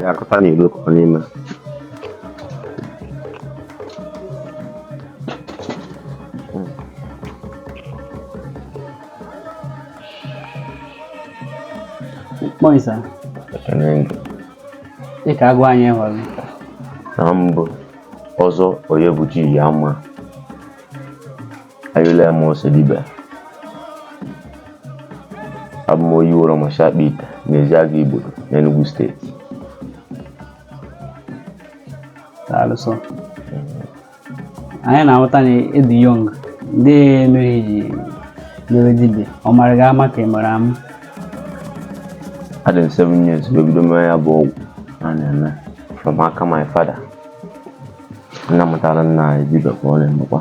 ga-akọta n'Igbo kọọ n'ime Morning, sir. Ị ga-agwa anyị hụrụ. Na mbụ ọzọ onye bụ ji ya mma. ayụla m ose dibịa abụ m onye wụrụ macha akpa ite n'ezi aga igbo n'Enugu State daalụ sọ anyị na-ahụta na ị dị young gịnị mere ị ji mere dibịa ọ mara gị ama ka ị mara ama adị m 7 years wee bido mee ya bụ ọgwụ a na-eme from aka my father nna mụtara nna anyị dibịa ka ọ na-emekwa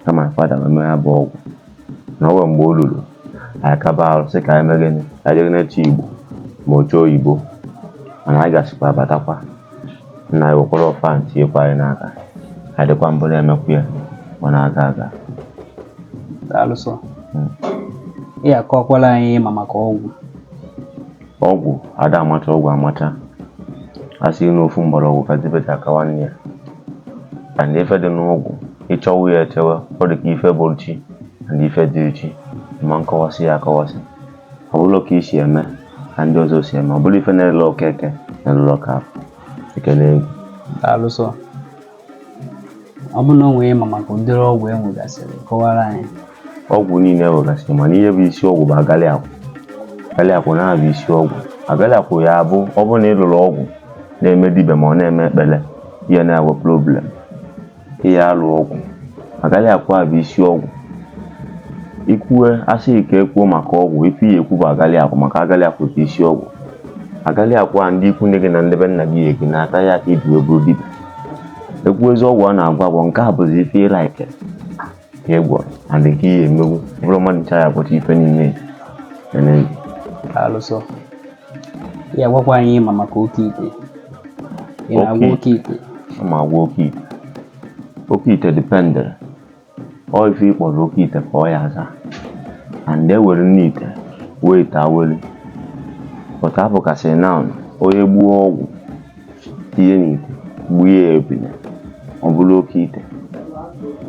ka my father wee mee ya bụ ọgwụ na ọ nwere mgbe o luru anyị kaba arụ sị ka anyị mee gịnị ka anyị jee na-eche Igbo ma oche oyibo mana anyị gasịkwa abatakwa nna anyị wekwara ọfọ ahụ tinyekwa anyị n'aka anyị dịkwa mbụ na-emekwa ya ọ na-aga aga daalụ sọ ị ya-akọkwara anyị ma maka ọgwụ ọgwụ a da amacha ọgwụ amacha a sị na ofu mgbọrọgwụ ka dibịa ji aka nwanne ya and ife dị n'ọgwụ i chewe ya echewe ọ dị ka ife bụ chi and ife dị echi ma a kọwasị ya akọwasị ọ bụrụ ka i si eme ka ndị ọzọ si eme ọ bụrụ ife na-ele Okeke na-elelu Okafọ ekele egwu daalụ sọ ọ bụrụ na o nwere ihe ị ma maka ụdịrị ọgwụ e nwegasịrị kọwara anyị ọgwụ niile e nwegasịrị mana ihe bụ isi ọgwụ bụ agalị akwụ agalị akwụ na-abụ isi ọgwụ agalị akwụ ya abụ ọ bụrụ na ị lụrọ agwụ na-eme dibịa ma ọ na-eme ekpere ị ya na-enwe problem ị ya-alụ agwụ agalị akwụ a bụ isi ọgwụ i kwue a sị ka e kwuo maka ọgwụ ife ị ya-ekwu bụ agalị akwụ maka agalị akwụ bụ isi ọgwụ agalị akwụ a ndị ikwu nne gị na ndị be nna gị ya gị na-ata ya ka ibi wee bụrụ dibịa e kwuezi ọgwụ a na-agwọ agwọ nke a bụzi ife ị like ka ị gwọrọ and nke ị ya-emekwu bụrụ mmadụ ncha ya bụcha ife niile ene daalụ sọ ị ya-agwakwa anyị ihe ị ma maka oke ite ị na-agwọ oke oke ite ma agwọ oke ite oke ite dependịrị ọ ife ị kpọrọ oke ite ka ọ ya-aza and e nwere nne ite nwee ite awele but ọ bụ ka a sị na onye gbuo ọgwụ tinye n'ite gbuo ya ebile ọ bụrụ oke ite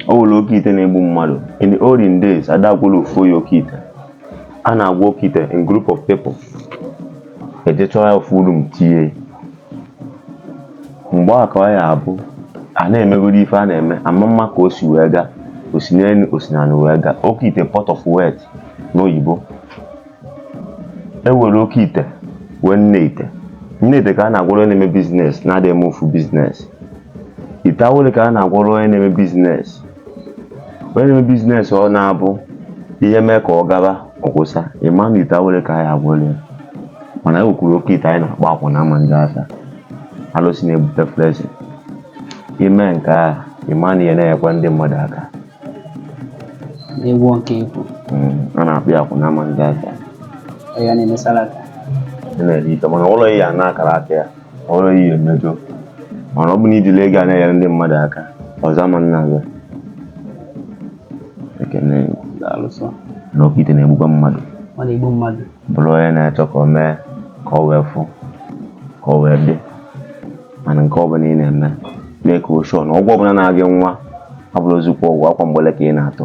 o nwere oke ite na-egbu mmadụ in the olden days a da agwọlụ ofu onye oke ite a na-agwọ oke ite in group of people e je chọọ ya ofu room tinye mgbe a ka ọ ya abụ a na-emegoro ife a na-eme ama mma ka o si wee gaa o si n'enu o si n'ana wee gaa oke ite pot of wealth n'oyibo e nwere oke ite nwee nne ite nne ite ka a na-agwọrọ onye na-eme business na-adịghị eme ofu business ite awele ka a na-agwọrọ onye na-eme business onye na-eme business ọ na-abụ ihe mee ka ọ gaba ọkwụsa ị ma na ite awele ka a ya-agwọrọ ya mana e nwekwuru oke ite anyị na-akpọ akwụ na ama ndị asa alụsị na-ebute flesi ime nke a ị ma na ihe na-enyekwa ndị mmadụ aka n'egwu nke ikwu Mm, a na-akpọ ya akwụ na ama ndị asa ya na-emesara aka na-eri ite mana ụlọ ya na-akara aka ya ọrụ ihe emejọ mana ọ bụ na ijiri ego a na-enyere ndị mmadụ aka ọzọ ama nna gị ekene alụsọ na oke ite na-egbukwa mmadụ ọ na-egbu mmadụ bụrụ onye na-achọ ka o mee ka ọ wee fụ ka ọ wee dị mana nke ọ bụla ị na-eme mee ka o shọ na ọgwụ ọbụla na-agị nwa abụrọzikwa ọgwụ akwa mgbele ka ị na-atụ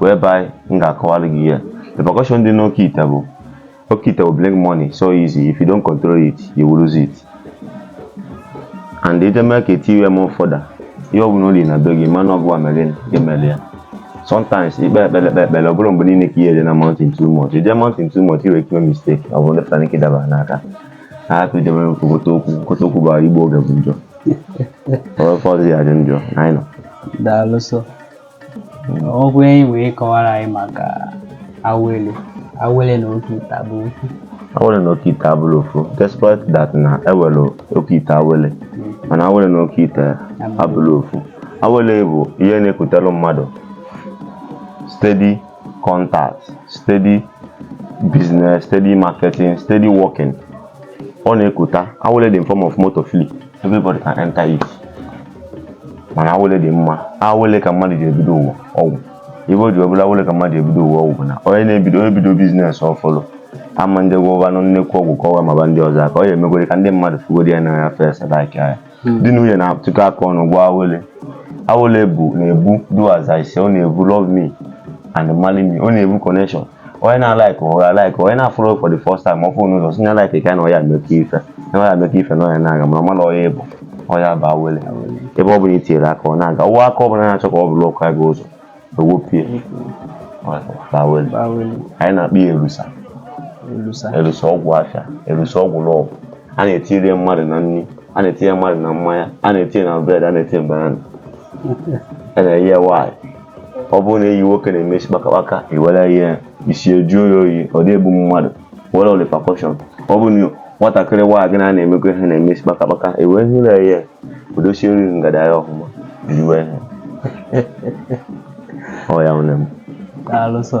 whereby m ga-akọwalụ gị ihe repercussion dị n'oke ite bụ oke ite will bring money so easy if you don't control it you will lose it and ije mee ka eti iwe m ụfọdụ ihe ọbụla ori na be gị mana ọgwụ amelin emeli ya sometimes ikpe ekpere ekpe ekpere ọ bụrọ mgbe niile ka ihe dị na mountain too much ije mountain too much i nwere ike ime mistake ọ bụrụ ndepụta n'ike dabara n'aka ha hapụ idebe okoto okwu okoto okwu bara igbo oge bụ njọ ọ bụ ụfọdụ ya dị njọ na anyị nọ daalụ sọ ọgwụ enyi wee kọwara anyị maka awele awele na oke ite ọ bụ ofu awele na oke ite abụrọ ofu despite that na e nwere oke ite awele hmm. mana awele na oke ite abụrọ ofu awele bụ ihe na-ekutere mmadụ steady contact steady business steady marketing steady working ọ na-ekuta awele dị in form of motor fleet everybody can enter it mana awele dị mma awele ka mmadụ ji ebido ụwa ọgwụ ibe o ji ọbụla awele ka mmadụ ebido ụwa ọgwụ bụ na onye na-ebido onye bido business ọfụlụ ama ndị gwọvanụ nnekwu ọgwụ ka ọwa maba ndị ọzọ aka ọ ya emegwere ka ndị mmadụ fugodi ya n'anya first like ya di na nwunye na-atụkọ aka ọnụ gwọọ awele awele bụ na-ebu do as I say ọ na-ebu love me and marry me ọ na-ebu connection onye na-alike ga-alike onye na-afụrụ for the first time ọ fụ n'ụzọ sị na-alike ka na ọya emekọ ife na ọya emekọ ife na ọya na-aga mana ọmala ọya ịbụ ọ ya bụ awele ebe ọ bụla i tinyere aka ọ na-aga ụwa aka ọ bụla na-achọ ka ọ bụrụ ọkụ aga ụzọ ewepie awele anyị na-akpọ ya erusa erusa ọgwụ afịa erusa ọgwụ love a na-etiri mmadụ na nri a na-etinye mmadụ na mmanya a na-etinye na bread a na-etinye banana a na-enye ya nwaanyị ọ bụrụ na enyi nwoke na-eme isi kpakakpaka ewere ihe isi ejuo ya oyi ọ dị egbu mmadụ were repercussion ọ bụ na nwatakịrị nwaanyị gị na na-emekọ ihe na-eme isi kpakakpaka ewere ihe na ihe odosie na ngada ya ọfụma jiriwe ihe ọ ya nwere m daalụ sọ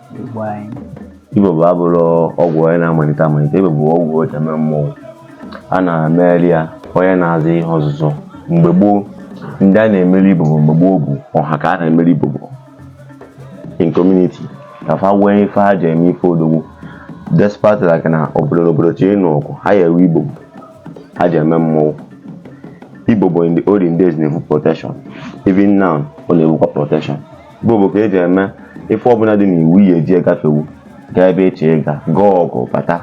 Ibobo abụrọ ọgwụ onye na-amalite amalite ibobo bụ ọgwụ eji eme mmọnwụ a na-emere ya onye na-azụ ihe ọzụzụ mgbe gboo ndị a na-emere ibobo mgbe gboo bụ ọha ka a na-emere ibobo in community ka fa wee ife ha ji eme ife odogwu despite like na obodo na obodo chọ ịnụ ọgụ ha ya ewe ibobo ha ji eme mmọnwụ ibobo in the olden days na-ebu protection even now ọ na-ebukwa protection ibobo ka eji eme ife ọbụla dị n'iwu ya eji gafewu gaa ebe ị chọ ịga gaa ọgụ bata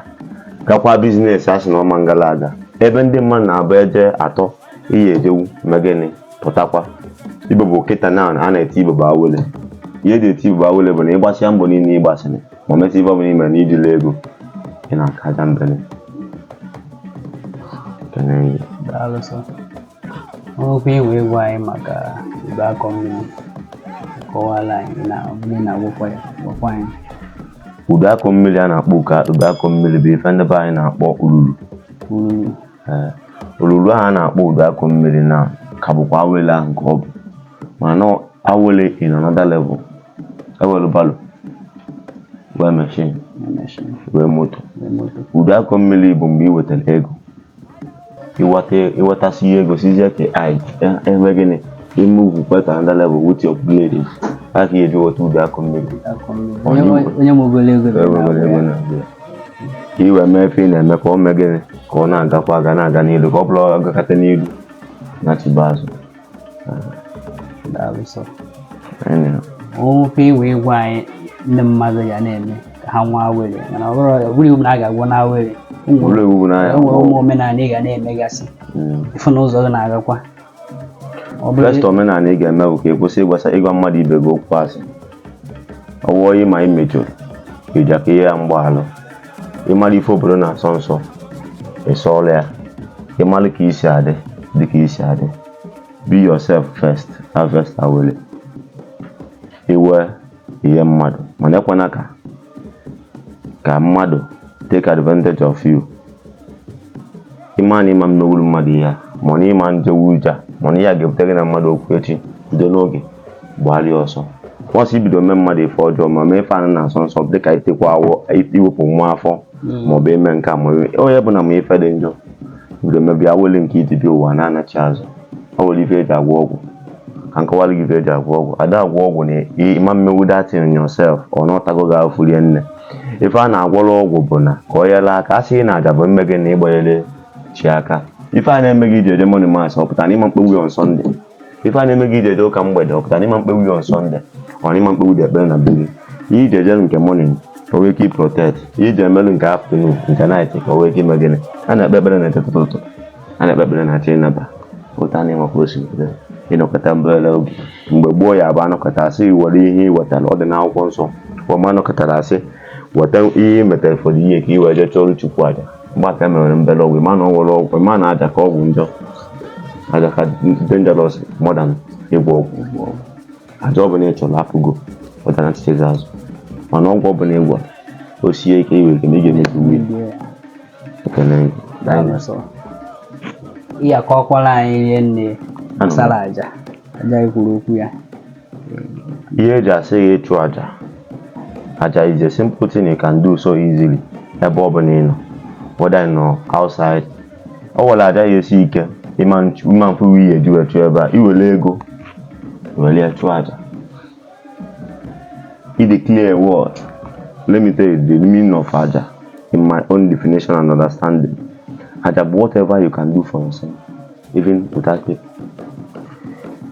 gakwa biznes a sị na ọma ngala aga ebe ndị mmadụ na-abụ eje atọ ị ya ejewu mee gịnị pụtakwa ibobo kịta na a na-eti ibobo awele ihe eji eti ibobo awele bụ na ịgbasịa mbọ niile ịgbasịrị ma mesị ife ọbụla ime na ijila ego ị na-akaja mbele Daalụ sọ. O nwekwa ihe inwe ịgwa anyị maka udu akọ mmiri kọwala anyị na mmiri na-agwụkwa ya gwakwa anyị. Udu akọ mmiri a na-akpọkwa udu akọ mmiri bụ ife ndị be anyị na-akpọ ululu. Ululu. Ee, olulu ahụ a na-akpọ udu akọ mmiri na ka bụkwa awele ahụ ka ọ bụ mana awele in another level enwelu barrow nwee machine nwee moto udu akọ mmiri bụ mgbe ị wetara ego iweta iwetasịa ego sizie ike ị mee gịnị i move to another level with your blade a ka eji wọta udu akọ mmiri onye nwegoro ego na ka i wee mee ife ị na-eme ka ọ mee gịnị ka ọ na-agakwa aga na-aga n'ilu ka ọ bụla agakata n'ilu nachiba azụ daalụ sọ o nwe ife inwe ịgwa anyị ndị mmadụ ga na-eme ka ha nwee awele mana ọ bụrụ iwu na a ga-agwọ na awele enwere ụmụ omenala ị ga na-emegasị hmm. ịfụ na ụzọ gị na-agakwa first omenala ị ga-eme bụ ka ị kwụsị ịgbasa ịgwa mmadụ ibe gị okwu asị ọwụọ ma ị mejọrọ ịja ka ị yọ ya mgbaalụ ịmara ife obodo na-asọ nsọ ị sọọlụ ya ịmara ka isi adị dị ka isi adị be yourself first harvest awele ị nwee ị nye mmadụ mana ekwana ka ka mmadụ take advantage of you ịma na ịma emewuru mmadụ ihe a mana ịma ejewu ije a mana ihe a ga-ebute gị na mmadụ okwu echi bido n'oge gbagharịa ọsọ once i bido mee mmadụ ife ọjọọ ma mee ife ana na-asọ nsọ dịka itekwa awọ iwepụ nwa afọ ma ọ bụ ime nke a ma ime- onye ọbụna mee ife dị njọ bido mebie awele nke i ji bịa ụwa na-anachi azụ ọ nwere ife eji agwọ ọgwụ ka m kọwara gị ife eji agwọ ọgwụ a da agwọ ọgwụ na ịma mmenwu that thing yourself ọ nọtago gị afụ rie nne ife a na-agwọrọ ọgwụ bụ na ka o nyelụ aka a sị na aja bụ mme gị na ịgbanyere chi aka ife a na-eme gị iji eje morning mass ọ pụtara na ịma mkpenwu ya on Sunday ife a na-eme gị iji eje ụka mgbede ọ pụta na ịma mkpenwu ya on Sunday ọ na ịma mkpenwudị ekpere na be gị ihe i ji eje nke morning ka o nwee ike iprotect ihe i ji emelụ nke afternoon nke night ka o nwee ike ime gịnị a na-ekpe ekpere na etete ụtụtụ a na-ekpe ekpere na achọ ịnaba pụta n'ịma ka o si pụta ịnọkọta mbere oge mgbe gboo ya bụ a nọkọta a sị were ihe i wetara ọ dị n'akwụkwọ nsọ ọma a nọkọtara a sị weta ihe i metere fọdụ ihe ka i wee jee chụọrọ Chukwu aja mgbe aka mere mbere ọgwụ ịma na ọ nwere ọgwụ ịma na aja ka ọgwụ njọ aja ka dangerous more than ịgwọ ọgwụ ịgwọ ọgwụ aja ọ bụla ị chụrụ apụgo ọ da nchichezi azụ mana ọgwụ ọ bụla ị gwọrọ o sie ike i nwee ike ma ị ga-emezu uwe ekene gị. Daalụ. ihe akọwala anyị rie nne gbasara aja aja anyị kwuru okwu ya ihe eji asị gị ịchụ aja aja is a simple thing you can do so easily ebe ọ bụla ị nọ whether ị nọ outside ọ nwere aja ya esi ike ịma nchụ- ịma afụ ihe eji wee chụọ ebe a i were ego were ya chụọ aja i declare a word let me tell you the meaning of aja in my own definition and understanding aja bụ whatever you can do for yourself even without it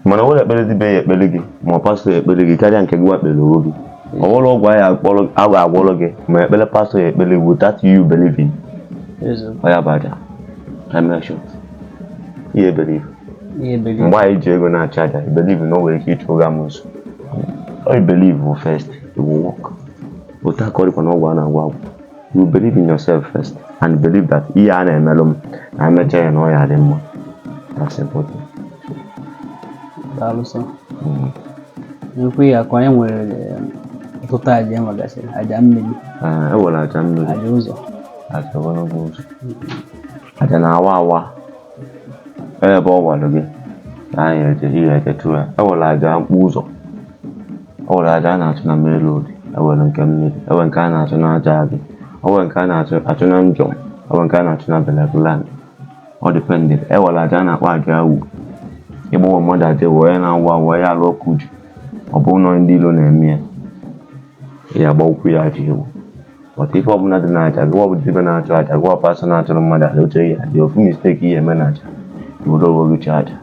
mana o nwere ekpere dịbịa ya ekpere gị ma ọ pastọ ya ekpere gị karịa nke gị nwa kpere onwe gị ọ nwere ọgwụ anyị akpọrọ a ga-agwọrọ gị ma ekpere pastọ ya ekpere gị without you believing eziokwu ọ ya bụ aja I make sure. ihe believe ihe believe mgbe anyị ji ego na-achụ aja i believe na o nwere ike ịchụ ụgha amusu i believe bụ first it will work otu aka ọ dịkwa na ọgwụ a na-agwọ agwọ you believe in yourself first and believe that ihe a na-emelụ m na emecha ya na ọ ya dị mma that's important daalụ sir Mm. na-ekwu ya ka anyị nwere eh, ọtụtụ aja e nwegasịrị aja mmiri Ah, e nwere aja mmiri aja ụzọ aja ogologo ụzọ aja na-awa awa ebe ọ gwara gị na anyị eje ihe ejetu ya e nwere aja mkpụ ụzọ e nwere aja a na-achụ na main road e nwere nke mmiri e nwere nke a na-achụ na aja agị e nwere nke a na-achụ achụ na njọm e nwere nke a na-achụ na burial ground ọ depend e nwere aja a na-akpọ aja awụ ịgbawa mmadụ aja wee ya na-awụ awụ ya alụ ọkụ uju ọ bụrụ na ndị ilo na-eme ya ya agba ụkwụ ya aja ewu maka ife ọbụla dị n'aja gị bụ dibịa na-achụ aja gị pastor na-achụrụ mmadụ aja once ya dị ofu mistake i mee n'aja i were onwe gị chụọ aja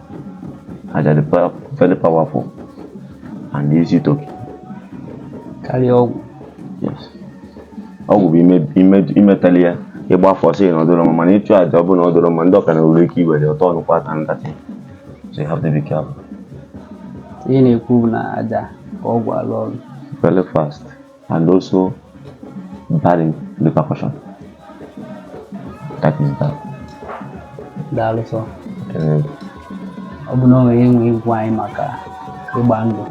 aja dị pa- very powerful and easy to kill. karịa ọgwụ Yes. ọgwụ bụ ime- ime- imetali ya ịgba afọ sị na ọ dịrọ mma mana ịchụ aja ọ bụrụ na ọ dịrọ mma ndị ọka na nwere ike iwere ọtọ ọnụkwa aka ndatị so you have to be careful ihe na-ekwu bụ na aja ka ọgwụ alụ ọrụ very fast and also bad in repercussion. That is that. Daalụ sọ. Ee, Ọ bụ na i nwere ike ịgwa anyị maka ịgba ndụ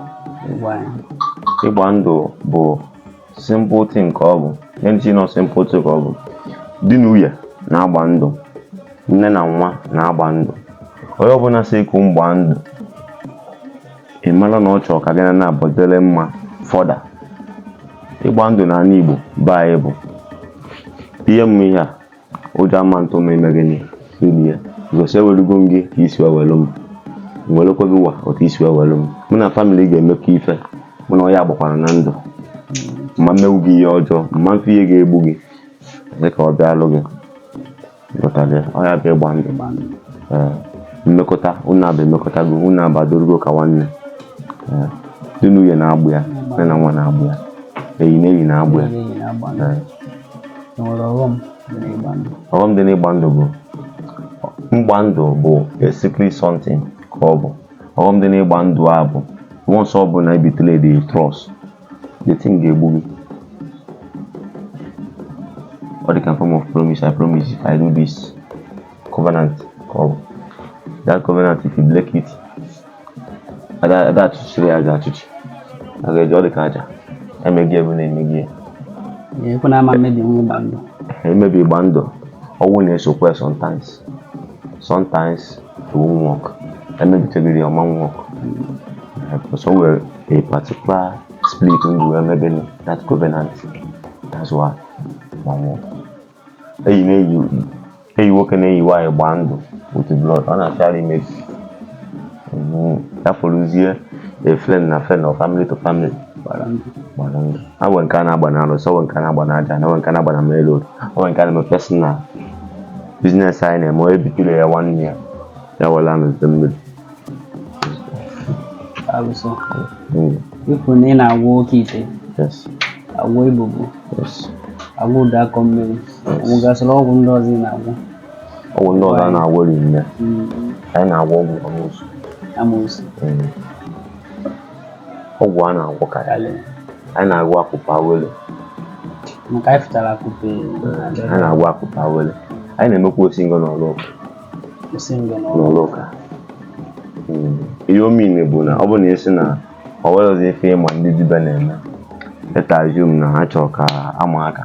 gwa anyị. Ịgba ndụ bụ simple thing ka ọ bụ ihe ndị nọ simple thing ka ọ bụ di na nwunye na-agba ndụ nne na nwa na-agba ndụ onye ọbụla sị ka unu gbaa ndụ ị mara na ọ chọrọ ka gị na ya nabọ dịrị mma fọda ịgba ndụ n'anị Igbo be anyị bụ ihe mma ihe a ụjọ ama atụ ma ime gịnị igosi ewelugo m gị ka i si welu m welekwa gị wa otu i si welu m mụ na family ga-emekọ ife mụ na ya agbakwara ndụ ma m eme gị ihe ọjọọ ma m afụ ihe ga-egbu gị ka ọ bịalụ gị Ịghọtago ya? Ọ ya bụ ịgba ndụ gba ndụ. Ee, mmekọta unu abụọ emekọtago unu abadorugo ka nwanne Ee, di na nwunye na-agba ya nne na nwa na-agba ya enyi na enyi na-agba ya Enyi na-agba ndụ. Ee, E nwere ọghọm dị n'ịgba ndụ. ọghọm dị n'ịgba ndụ bụ na ịgba ndụ bụ a secret something ka ọ bụ ọghọm dị n'ịgba ndụ a bụ once ọ bụla e betray-lụ the trust the thing ga-egbu gị ọ dị ka form of promise i promise if i do this covenant ka ọ bụ that covenant if you break it ada ada achụchiri ya aja achụchi a ga-eji ọ dị ka aja emeghị ebe na-emeghị ya ekwe na ama mmebi nwa ịgba ndụ i mebi ịgba ndụ ọnwụ na-esokwa ya sometimes sometimes it won't work emebitegoro ya ọ ma work because o nwere a particular spirit e ji wee mebe that covenant that's why ma nwụọ enyi na enyi enyi nwoke na enyi nwaanyị gbaa ndụ with blood ọ na-achara imebi ya fọrọzie a friend na friend or family to family gbara ndụ ha nwere nke a na-agba n'alụsị e nwere nke a na-agba n'aja ana e nwere nke a na-agba na main road nwere nke a na-eme personal business anyị na-eme onye betray-a nwanne ya ya were amịta mmiri alụsọ Mm, i kwu na ị na-agwọ oke ite yes agwọ ibobo yes agwọ ụdụ akọ mmiri e nwegasịrị ọgwụ ndị ọzọ ị na-agwọ ọgwụ ndị ọzọ a na-agwọ rinne Mm, anyị na-agwọ ọgwụ amoosu amoosu Mm. ọgwụ a na-agwọ ka ya lee anyị na-agwọ akụpe awele maka anyị fụtara akụpe anyị na-agwọ akụpe awele anyị na-emekwa osi ngọ n'ụlọ ụka kwụsị ngọ n'ọrụ n'ụlọ ụka Mm. ihe ọ mean bụ na ọ bụ na ị sị na ọ nweghịzi ife ịma ndị dibịa na-eme etajum na ha chọrọ ka ama aka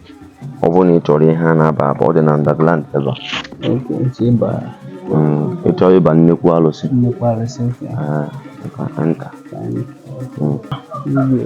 ọ bụrụ na ị chọrọ ihe a na-aba aba ọ dị na underground ebe a Okay, ntị ịba Mm, ị chọrọ ịba nnekwu alụsị nnukwu arụsị nke a. ah, ị ka enta Anyị. Mm. Igwe.